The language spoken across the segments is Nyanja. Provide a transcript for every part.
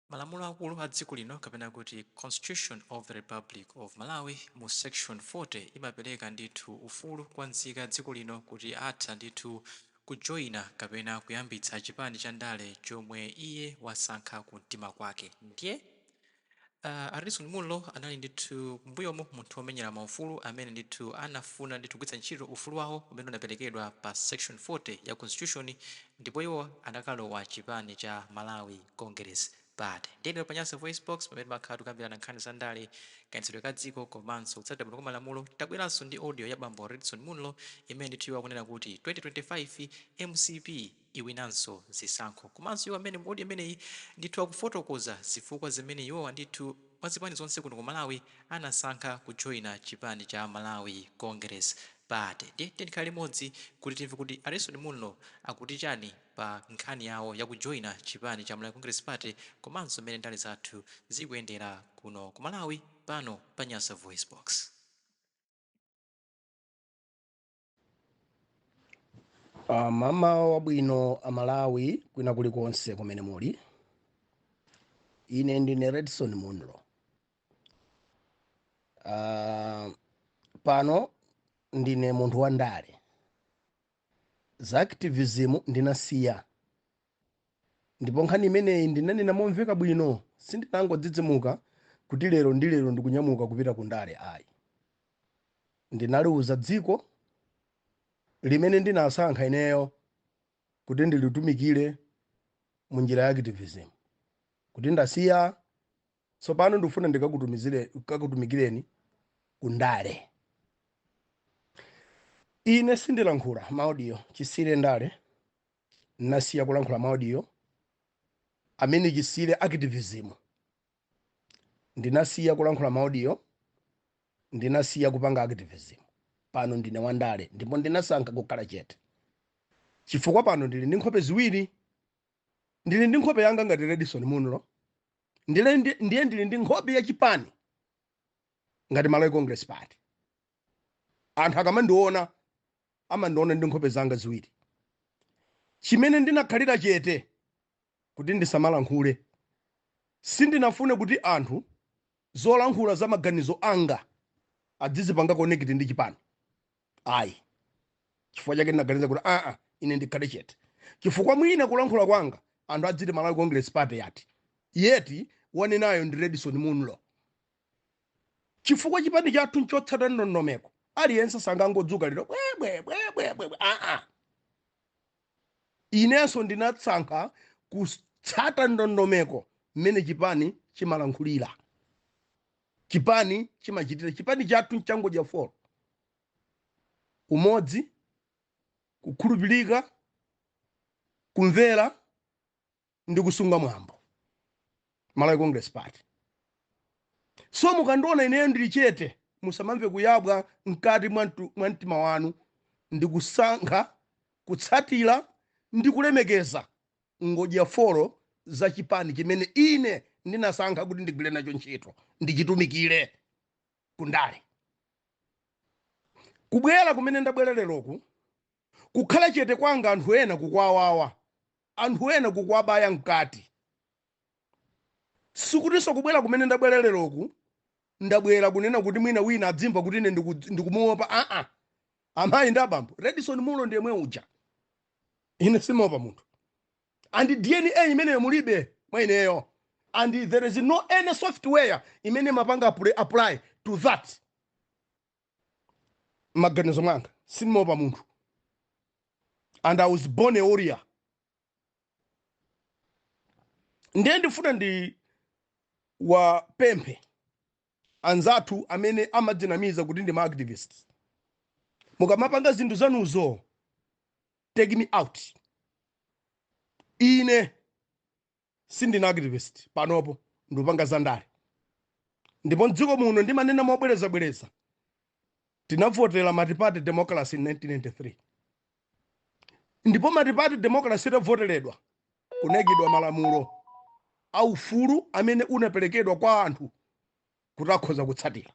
Malamulo akulu a dziko lino kapena kuti Constitution of the Republic of Malawi mu section 40 imapereka ndithu ufulu kwa nzika ya dziko lino kuti atha ndithu kujoina kapena kuyambitsa chipani cha ndale chomwe iye wasankha ku mtima kwake ndye a Redson Munlo anali ndithu m'mbuyomu munthu omenyera ma ufulu amene ndithu anafuna ndithu kugwiritsa ntchito ufulu wawo umene unaperekedwa pa section 40 ya constitution ndipo iwo anakalowa chipani cha Malawi Congress Party. Ndiye lero pa Nyasa VoiceBox, pamene timakhala tikukambirana nkhani za ndale, kayendetsedwe ka dziko komanso kutsatira bwino kwa malamulo, tabweranso ndi audio ya bambo Redson Munlo imene ndithu iwo akunena kuti 2025 mcp iwinanso zisankho. Komanso iwo amene mu audio imeneyi ndithu akufotokoza zifukwa zimene iwowa ndithu mwa zipani zonse kuno ku Malawi anasankha kujoina chipani cha Malawi Congress Party. Ndiye tiyeni tikhale limodzi kuti timve kuti a Redson Munlo akuti chani. pa nkhani yawo ya kujoina chipani cha Malawi Congress Party komanso mmene ndale zathu zikuyendera kuno ku Malawi pano pa Nyasa VoiceBox. Uh, mamawa wabwino amalawi kwina kulikonse kumene muli ine ndine redson munlo uh, pano ndine munthu wa ndale Za activism ndinasiya. Ndipo nkhani imeneyi ndinanena momveka bwino, sindinangodzidzimuka kuti lero ndi lero ndikunyamuka kupita ku ndale ayi. Ndinaliuza dziko limene ndinasankha ineyo kuti ndilitumikire mu njira ya activism kuti ndasiya Tsopano ndikufuna ndikakutumikireni ku ndale. Ine sindilankhula maaudio chisiyire ndale, nasiya kulankhula maaudio amene chisiyire activism, ndinasiya kulankhula maaudio, ndinasiya kupanga activism. Pano ndine wandale ndipo ndinasankha kukhala chete chifukwa pano ndili ndi nkhope ziwiri. Ndili ndi nkhope yanga ngati Redson Munlo ndiye ndili ndi nkhope ya chipani ngati malawi congress party anthu akamandiona amandiona ndi nkhope zanga ziwiri chimene ndinakhalira chete kuti ndisamalankhule sindinafune kuti anthu zolankhula za maganizo anga adzizipanga connect ndi chipani ayi chifukwa chake ndinaganiza kuti aa ine ndikhale chete chifukwa mwina kulankhula kwanga anthu adziti malawi congress party yati yet wanenayo ndi redson munlo chifukwa chipani chathu nchotsata ndondomeko aliyense sangangodzuka lero bwebwebwebwebwe aa inenso ndinasankha kutsata ndondomeko mmene chipani chimalankhulira chipani chimachitira chipani chathu ncha ngodya folo umodzi kukhulupirika kumvera ndi kusunga mwambo malawi congress party so mukandiona ineyo ndili chete musamamve kuyabwa mkati mwa mtu- mwa mtima wanu ndi kusankha kutsatira ndi kulemekeza ngodya folo za chipani chimene ine ndinasankha kuti ndigwire nacho ntchito ndichitumikire ku ndale kubwera kumene ndabwera leroku kukhala chete kwanga anthu ena kukuwawawa anthu ena kukuwabaya mkati sikutinso kubwera kumene ndabwera leroku ndabwera kunena kuti mwina wina adzimva kuti ine ndiku- ndikumuopa aa Amayi ndi abambo, Redson Munlo ndi yemwe uja. Ine simaopa munthu. And DNA imeneyo mulibe mwa ineyo. And there is no any software imene imapanga apply, apply to that. Mmaganizo mwanga, simaopa munthu. And I was born a warrior. Ndiye ndifuna ndiwapemphe anzathu amene amadzinamiza kuti ndi ma activists mukamapanga zinthu zanuzo take me out ine sindine activist panopo ndikupanga zandale ndipo mdziko muno ndimanena mobwerezabwereza tinavotera multiparty democracy in 1993 ndipo multiparty democracy itavoteredwa kunayikidwa malamulo a ufulu amene unaperekedwa kwa anthu kuti akhoza kutsatira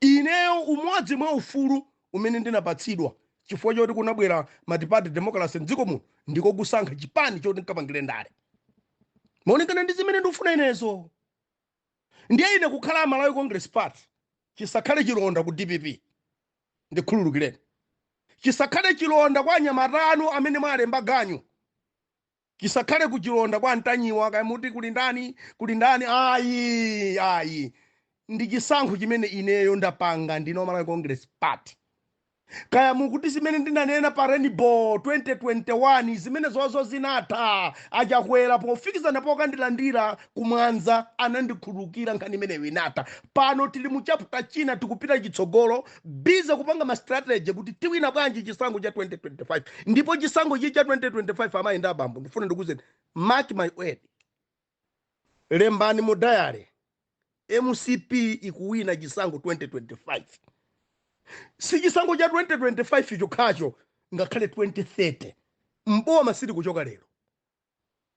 ineyo umodzi mwa ufulu umene ndinapatsidwa chifukwa choti kunabwera multiparty democracy mdziko muno ndiko kusankha chipani choti nkapangire ndale malingana ndi zimene ndikufuna inezo ndiye ine kukhala malawi congress party chisakhale chilonda ku dpp Ndikhululukireni. Chisakhale chilonda kwa anyamata anu amene mwalemba ganyu. Chisakhale kuchilonda kwa Ntanyiwa kaya muti kuli ndani kuli ndani ayi ayi. Ndi chisankho chimene ineyo ndapanga ndine wa Malawi Congress Party. Kaya mukuti zimene ndinanena pa Rainbow 2021 zimenezozo zinatha a Chakwera pofikizana pokandilandira kumwanza anandikhululukira nkhani imeneyo inatha pano tili mu chapter china tikupita chitsogolo busy kupanga ma strategy kuti tiwina bwanji chisankho cha 2025 ndipo chisankho chi cha 2025 amayi ndi abambo ndifuna ndikuuzeni mark my word lembani mu diary mcp ikuwina chisankho 2025 si chisankho cha 2025 chokhacho ngakhale 2030 m'boma sitikuchoka lero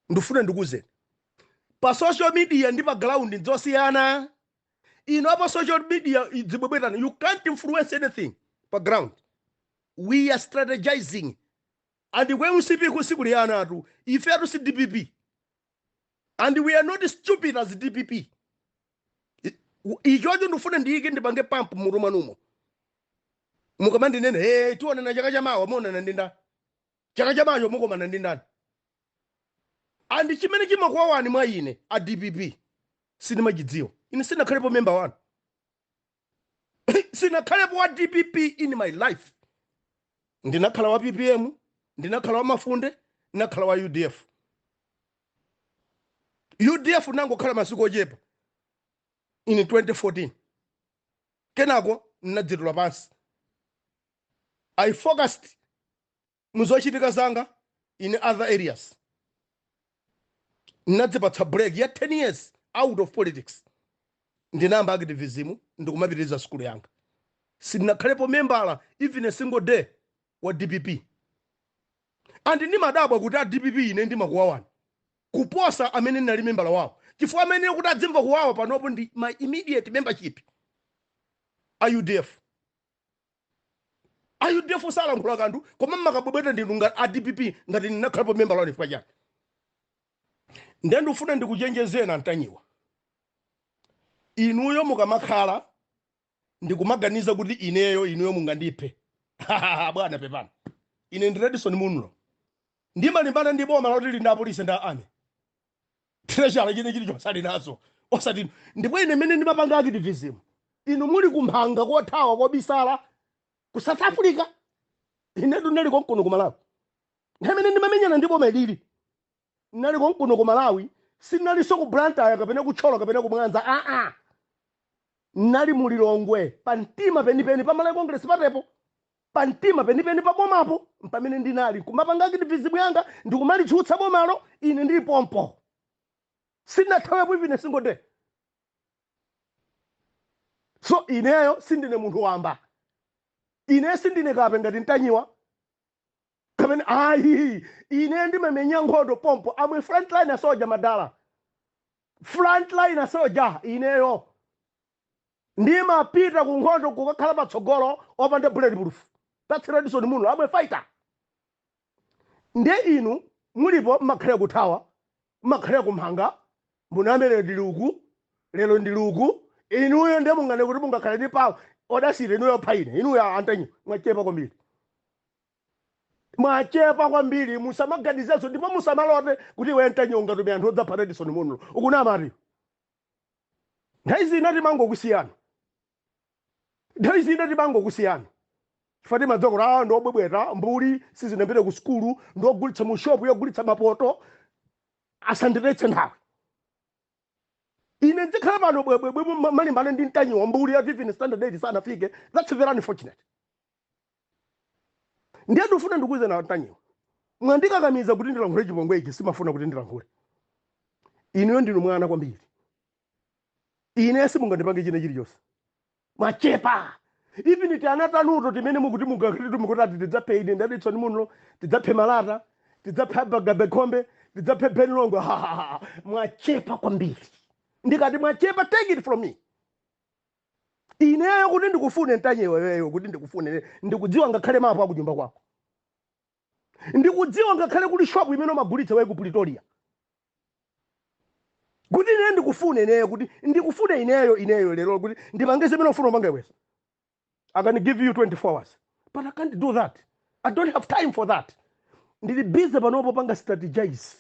ndifuna ndikuuzeni pa social media ndi pa ground ndzosiyana inu apa social media muzibwebwetana you can't influence anything pa ground we are strategizing and ku mcp ku sikuli anatu ifetu si dpp and we are not stupid as dpp I- u- ichocho ndifuna ndiyike ndipange pump mmutu mwanumo mukamandinena hey tionana chaka chamawa muonana ndi nda Chaka chamawacho mukomana ndi ndani? And chimene chimakuwawani mwa ine a dpp sindimachidziwa. Ine sinakhalepo member wanu. sinakhalepo wa dpp in my life. Ndinakhala wa PPM, ndinakhala wa Mafunde, ndinakhala wa UDF. UDF nangokhala masiku ochepa in 2014. Kenako ndinadzitula pansi. I focused muzochitika zanga in other areas ndinadzipatsa break ya 10 years out of politics ndinayamba activism ndikumapitiriza sukulu yanga sindinakhalepo membala even a single day wa dpp and ndimadabwa kuti a dpp ine ndimakuwawani kuposa amene ndinali membala wawo chifukwa amene kuti adzimva kuwawa panopo ndi my immediate membership a udf a udf salankhula kanthu koma mmakabwebweta ndinu a dpp ngati ndinakhalapo membala wanu chifukwa chani nde ndifuna ndikuchenjezeni a ntanyiwa inuyo mukamakhala ndikumaganiza kuti ineyo inuyo mungandiphe bwana pepani ine ndi redson munlo ndimalimbana ndi boma loti lili ndi apolisi ndi a army treasury china chilichonse ali nazo osati inu ndipo ine mmene ndimapanga activism inu muli kumphanga kothawa kobisala ku south africa inetu ndinali konkuno ku malawi nthawi imene ndimamenyana ndi boma ilili ndinali konkuno ku malawi sinalinso ku blantyre kapena ku thyolo kapena ku mwanza aa nali mu lilongwe pa mtima penipeni pa malawi congress party po Pamtima penipeni pa bomapo mpamene ndinali, n'kumapanga activism yanga ndi kumalitsutsa bomalo ine ndili pompo. Sindinathawepo even a single day. So ineyo sindine munthu wamba. Ineyo sindine kape ngati Ntanyiwa kapena ayi. Ineyo ndimamenya nkhondo pompo. I'm a frontline soldier madala. Frontline soldier ineyo. Ndimapita ku nkhondo kukakhala patsogolo opanda bulletproof. That's Redson Munlo. I'm a fighter. Nde inu mulipo mmakhalira kuthawa, mmakhalira kumhanga, mawa ndili uku, lero ndili uku. Inuyo nde munganene kuti mungakhale ndi power. Audacity inuyo yopha ine. Inuyo a Ntanyiwa mwachepa kwambiri. Mwachepa kwambiri musamaganizenso ndipo musamalote kuti iwe Ntanyiwa ungatume anthu odzapha Redson Munlo. Ukunamatu iwe. Nthawi zina timangokusiyani. Nthawi zina timangokusiyani chifukwa timadziwa kuti awa ndi obwebweta, mbuli, sizinapite ku sukulu, ndi ogulitsa mu shopu yogulitsa mapoto, asanditayitse nthawi. Ine ndzikhala pano bwebwebwe n'kumalimbana ndi Ntanyiwa, mbuli yoti even standard 8 sanafike, that's very unfortunate. ndiye ndifuna ndikuuzeni a Ntanyiwa mwandikakamiza kuti ndilankhule chipongwe ichi sindimafuna kuti ndilankhule inuyo ndinu mwana kwambiri ine simungandipange china chilichonse mwachepa even ti ana tanuto timene mukuti mugakhalitu mukuti ati tidzaphe ine Redson Munlo tidzaphe malata tidzaphe bagabekhombe tidzaphe Ben Longwe mwachepa kwambiri ndikati mwachepa take it from me ineyo kuti ndikufune Ntanyiwa iweyo kuti ndikufune ine ndikudziwa ngakhale mapu akunyumba kwako ndikudziwa ngakhale kuli shopu imene umagulitsa iwe ku pretoria kuti ine ndikufune ineyo kuti ndikufune ineyo ineyo lero kuti ndipange zimene ufuna upange iweso i can give you 24 hours but i can't do that i don't have time for that ndili busy panopo kupanga strategize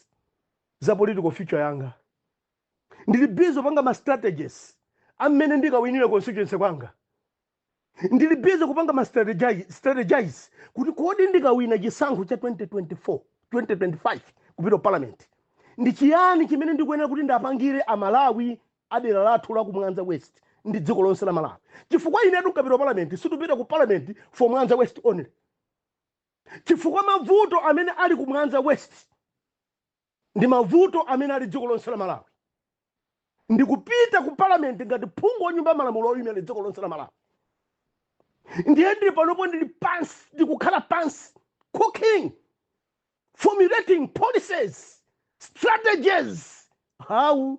za political future yanga ndili busy kupanga ma strategies a mmene ndikawinire constituency kwanga ndili busy kupanga ma strategize, strategize kuti kodi ndikawina chisankho cha 2024 2025 kupita ku parliament ndi chiyani chimene ndikuyenera kuti ndikapangire amalawi a dera lathu la ku mwanza west ndi dziko lonse la malawi chifukwa inetu nkapita ku parliament sindikupita ku parliament for mwanza west only chifukwa mavuto amene ali ku mwanza west ndi mavuto amene ali dziko lonse la Malawi ndikupita ku parliament ngati phungu wa nyumba ya malamulo oyimira dziko lonse la Malawi ndiye ndili panopo ndili pansi ndikukhala pansi cooking formulating policies strategies how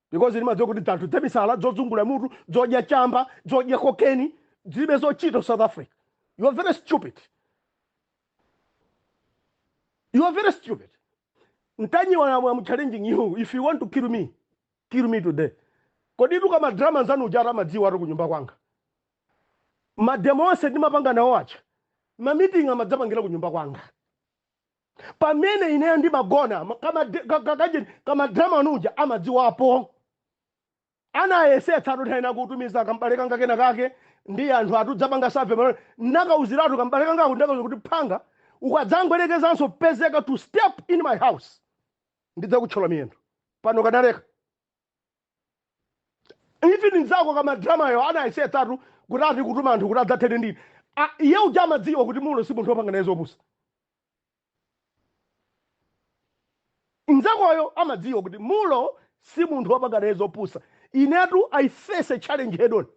because ndimadziwa kuti dzanthu dzamisala dzodzungula mutu dzodya chamba dzodya kokeni dzilibe zochita south africa you are very stupid you are very stupid ntanyiwa am, am challenging you if you want to kill me kill me today kodi iwe kamadrama nzanu ujara amadziwa ati kunyumba kwanga mademo onse ndimapanga nawo aja mamiting amadzapangira kunyumba kwanga pamene ineyo ndimagona ma- kama de- ka- ka- kajeni kamadrama ujaa amadziwapo anayesetsa ati kutha ena kutumiza kambale kanga kena kake ndi anthu ati adzapange save pamene ndakauziratu kambale kangako ndakauza kuti panga ukadzangoyerekezanso kupezeka to step in my house ndidzakutchola miyendo pano kanaleka even nzako kama drama yo anayesetsatu kuti ati kutuma anthu kuti adzathane ndine A- iye uja amadziwa kuti mulo si munthu wopanga naye zopusa nzakoyo amadziwa kuti mulo si munthu wopanga naye zopusa inetu i face a challenge head on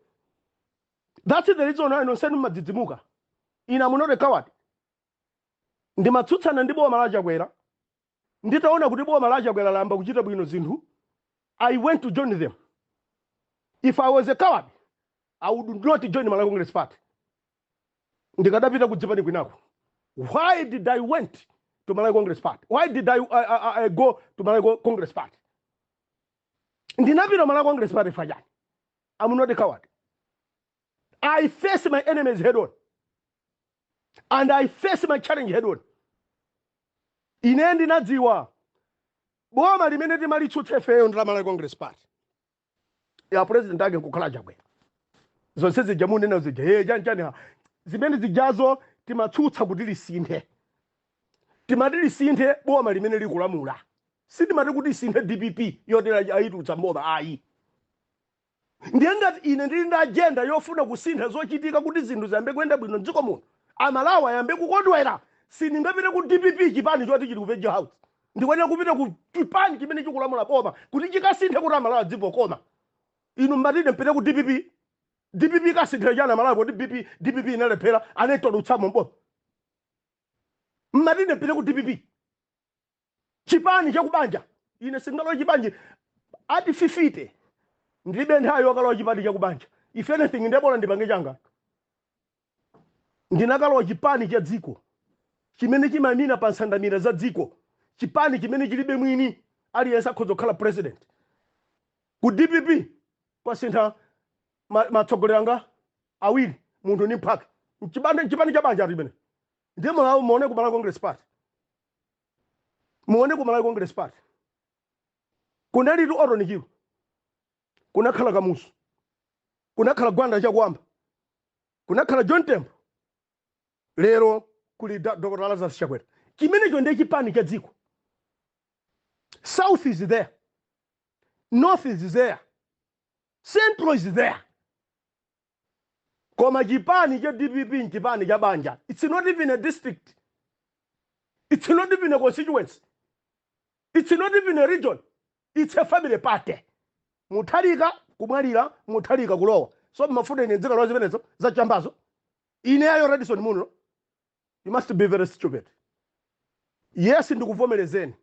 that's the reason why nonsenu mmadzidzimuka I'm not a coward ndimatsutsana ndi boma la chakwera Nditaona kuti boma la Chakwera layamba kuchita bwino zinthu, I went to join them. If I was a coward, I would not join Malawi Congress Party. Ndikadapita kudzipani kwinako. Why did I went to Malawi Congress Party? Why did I, I, I, I go to Malawi Con- Congress Party? Ndinapita Malawi Congress Party fajani. I'm not a coward. I face my enemies head on and I face my challenge head on. Ine ndinadziwa boma limene timalitsutsa ifeyo ndi la Malawi Congress Party ya president ake kukhala Chakwera. Zonse zija munena zija yeye chani chani ha. zimene zijazo timatsutsa kuti lisinthe timati lisinthe boma limene likulamula sitimati kuti lisinthe dpp yoti anayitulutsa mboma ayi Ndiye ngati ine ndili ndi ajenda yofuna kusintha zochitika kuti zinthu ziyambe kuyenda bwino m'dziko muno, Amalawi ayambe kukondwera, sindingapite ku dpp, chipani choti chili ku Virgil House. Ndikuyenera kupita ku chipani chimene chikulamula boma kuti chikasinthe kuti Amalawi adzimva kukoma. Inu m'mati ine mpite ku dpp? Dpp ikasinthira chani Amalawi poti BP, dpp inalephera, anaitulutsamo m'boma? M'mati ine mpite ku dpp? chipani chakubanja ine sindingalowe chipani ati fifite ndilibe nthawi yokalowa chipani chakubanja if anything ndebola ndipange changa ndinakalowa chipani cha dziko chimene chimayimira pa nsandamira za dziko chipani chimene chilibe mwini aliyense akhoza kukhala president ku dpp kwasintha ma- matsogoleri anga awiri munthu ni mphaka Mchipande- chipani cha banja limene ndiye malawi muone ku malawi congress party Muone ku Malawi Congress Party kunalitu Orton Chirwa, kunakhala Kamuzu, kunakhala Gwanda Chakuamba, kunakhala John Tembo, lero kuli Da- Dr. Lazarus Chakwera. Chimenecho ndiye chipani cha dziko. South is there, North is there, Central is there. koma chipani cha dpp nchipani cha banja its not even a district its not even a constituency its not even a region its a family party muthalika kumwalira muthalika kulowa so mmafuna ine ndzikalowa zimenezo za chambazo ineyo redson munlo You must be very stupid. Yes, ndikuvomerezeni.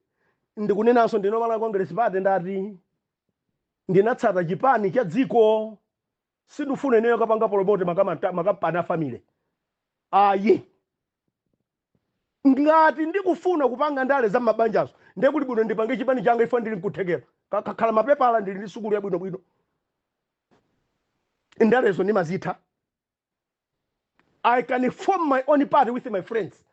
Ndikunenanso ndili Malawi Congress Party ndati ndinatsata chipani cha dziko sindifuna ineyo kupanga promote makamata- makampani a family. Ayi. Ngati ndikufuna kupanga ndale za mabanjazo ndiye kuti bwino ndipange chipani changa if ndili nkuthekera. Ka- Kakhala mapepala ndili ndi sukulu yabwinobwino. Ndalezo ndimazitha. I can form my own party with my friends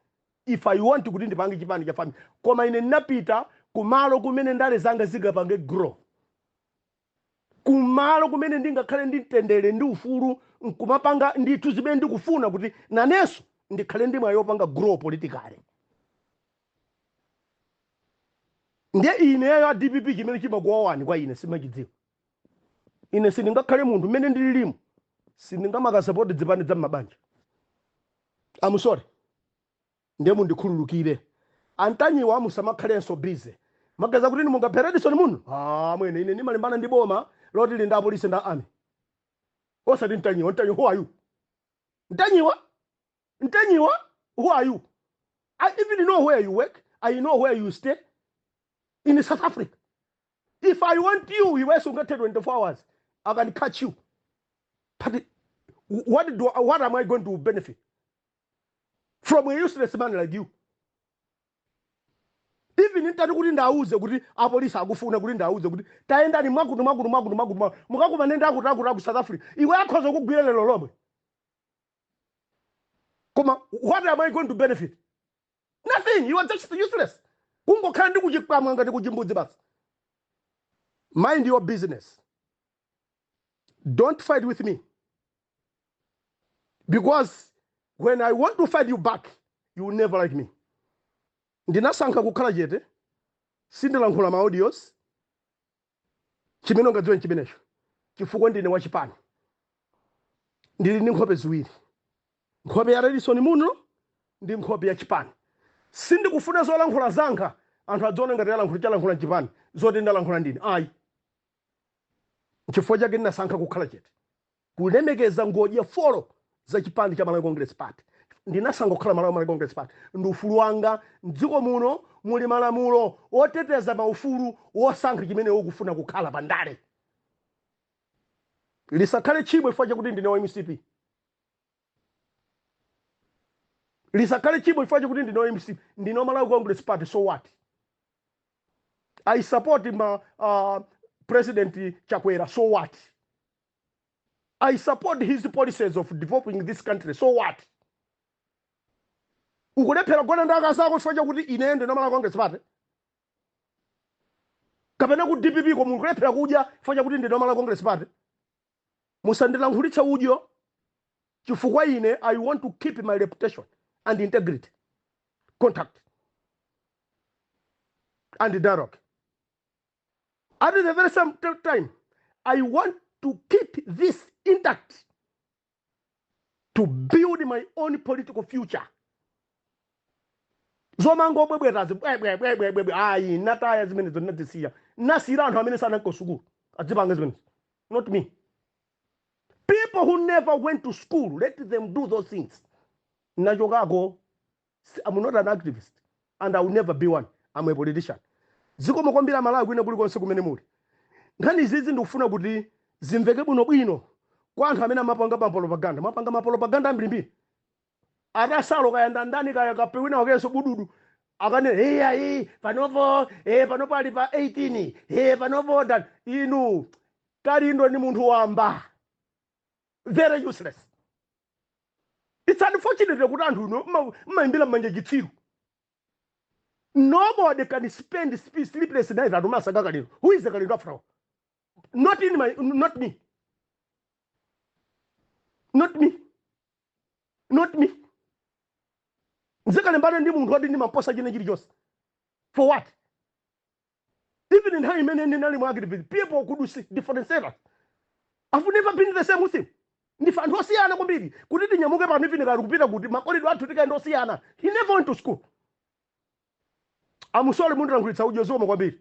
if I want kuti ndipange chipani cha family koma ine ndinapita kumalo kumene ndale zanga zingapange grow kumalo kumene ndingakhale ndi mtendere ndi ufulu nkumapanga ndithu zimene ndikufuna kuti nanenso ndikhale ndi mwayi wopanga grow politically ndiye ineyo a dpp chimene chimakuwawani kwa ine simachidziwa ine sindingakhale munthu mmene ndililimu sindingamakasapoti zipani za mabanja i'm sorry ndiye mundikhululukire antanyiwa musamakhalenso busy muganiza kuti mungaphe redson munlo ah, mmene ine ndimalimbana ndi boma loti lili ndi apolisi ndi army osati ntanyiwa ntanyiwa who are you ntanyiwa ntanyiwa who are you i even know where you work i know where you stay in south africa if i want you iwe sungathe 24 hours i can catch you but what do what am i going to benefit from a useless man like you even nditati kuti ndauze kuti apolisi akufuna kuti ndauze kuti tayendani mwakuti mwakuti mwakuti mwakuti mwakuti mukakumane ndi akuti akuti aku south africa iwe akhoza kugwira lero lomwe koma what am i going to benefit nothing you are just useless kungokhala ndi kuchikamwa ngati kuchimbudzi basi mind your business don't fight with me because when i want to fight you back you will never like me ndinasankha kukhala chete sindilankhula ma audios Chimene ungadziwe n'chimenecho, chifukwa ndine wa chipani. Ndili ndi nkhope ziwiri, nkhope ya Redson Munlo ndi nkhope ya chipani. Sindikufuna zolankhula zanga anthu adziona ngati alankhula, chalankhula chipani zoti ndalankhula ndine, ayi. N'chifukwa chake ndinasankha kukhala chete. Kulemekeza ngodya folo za chipani cha Malawi Congress Party. Ndinasankha kukhala Malawi Congress Party ndi ufulu wanga. M'dziko muno muli malamulo oteteza maufulu wosankha chimene iwe ukufuna kukhala pa ndale. Lisakhale tchimo chifukwa chakuti ndine wa mcp. Lisakhale tchimo chifukwa chakuti ndine wa mcp. Ndine wa Malawi Congress Party, so what? I support ma uh, President Chakwera, so what? I support his policies of developing this country so what ukulephera kugona ndi akazi ako chifukwa chakuti ineyo ndine malawi congress party kapena ku dpp ko mukulephera kudya chifukwa chakuti ndine malawi congress party musandilankhulitse udyo chifukwa ine i want to keep my reputation and integrity contact and dialogue At the very same t- time, I want to keep this intact to build my own political future. zomangobwebwetazi bwebwebwebwebwe ayi nataya zimenezo nadzisiya nasiyira anthu amene sananko sukulu adzipange zimenezo not me people who never went to school let them do those things ndachokako Am not an activist and I will never be one, am a politician. Zikomo kwambiri amalawi kwina kuli konse kumene muli. Nkhani izizi ndikufuna kuti zimveke bwino bwino kwa anthu amene amapanga ma propaganda. Mwapanga ma propaganda ambirimbiri. Atasalo kaya ndandani kaya kape wina wakenso bududu akanena hey ayi panopo eh panopo ali pa 18 eh panopo dan lu kalindo ni munthu wamba very useless it's unfortunate kuti anthu inu mmayimbira mmanja chitsiru nobody can spend sp- sleepless nights ati akumasaka kalindo who is kalindo after all not in my not me not me not me ndizikalimbana ndi munthu woti ndimamposa china chilichonse for what even nthawi imene ndinali mu activism people could see differences i've never been the same with him ndife anthu osiyana kwambiri kuti tinyamuke pano even kaya kupita kuti makolidwe athu tikaone ndi osiyana he never went to school am sorry mundilankhulitsa udyo zikomo kwambiri